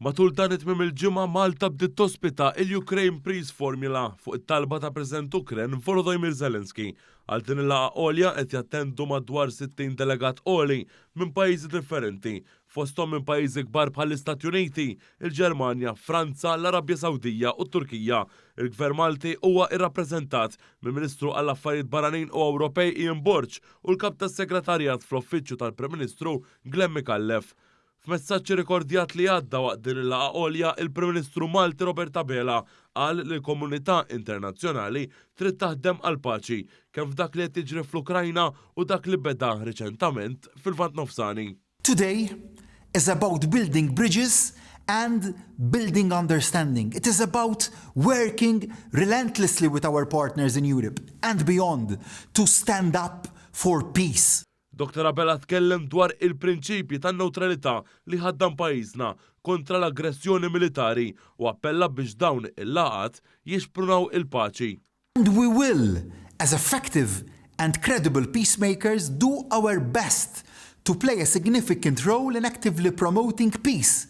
Matul dan it-tmiem il-ġimgħa Malta bdiet tospita il-Ukraine Prize Formula fuq it-talba ta' President Ukren Volodymyr Zelensky. Għal din il-laqgħa għolja qed jattendu madwar 60 delegat għoli minn pajjiżi differenti, fosthom minn pajjiżi kbar bħall-Istati Uniti, il-Ġermanja, Franza, l-Arabja Sawdija u t-Turkija. Il-Gvern Malti huwa irrappreżentat mill-Ministru għall-Affarijiet Barranin u Ewropej Ian Borg u l-Kap tas-Segretarjat fl-Uffiċċju tal-Prim Ministru Glen Micallef. F'messaġġ irrikordjat li għadda waqt din il-laqgħa għolja, il-Prim Ministru Malti Robert Abela qal li l-komunità internazzjonali trid taħdem għall-paċi, kemm f'dak li qed jiġri fl-Ukrajna u dak li beda riċentament fil-Lvant Nofsani. Today is about building bridges and building understanding. It is about working relentlessly with our partners in Europe and beyond to stand up for peace. Dottor Abela tkellem dwar il-prinċipji tan-newtralità li jħaddan pajjiżna kontra l-aggressjoni militari u appella biex dawn il-laqgħat jixprunaw il-paċi. And we will, as effective and credible peacemakers, do our best to play a significant role in actively promoting peace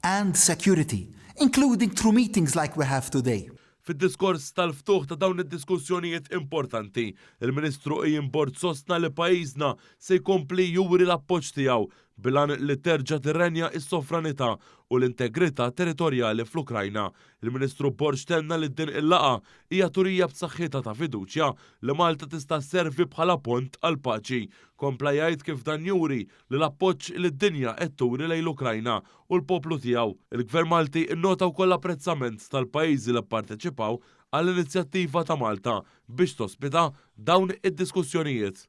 and security, including through meetings like we have today. Fid-diskors tal-ftuħ ta' dawn id-diskussjonijiet importanti, il-Ministru Ian Borg sostna li pajjiżna se jkompli juri l-appoġġ tiegħu bil-għan li terġa' tirrenja s-sovranità u l-integrità territorjali fl-Ukrajna. Il-Ministru Borg tenna li din il-laqgħa hija turija b'saħħitha ta' fiduċja li Malta tista' sservi bħala pont għall-paċi. Kompla jgħid kif dan juri li l-appoġġ li d-dinja qed turi lejn l-Ukrajna u l-poplu tiegħu. Il-Gvern Malti nnota wkoll l-apprezzament tal-pajjiżi li pparteċipaw għall-inizjattiva ta' Malta biex tospita dawn id-diskussjonijiet.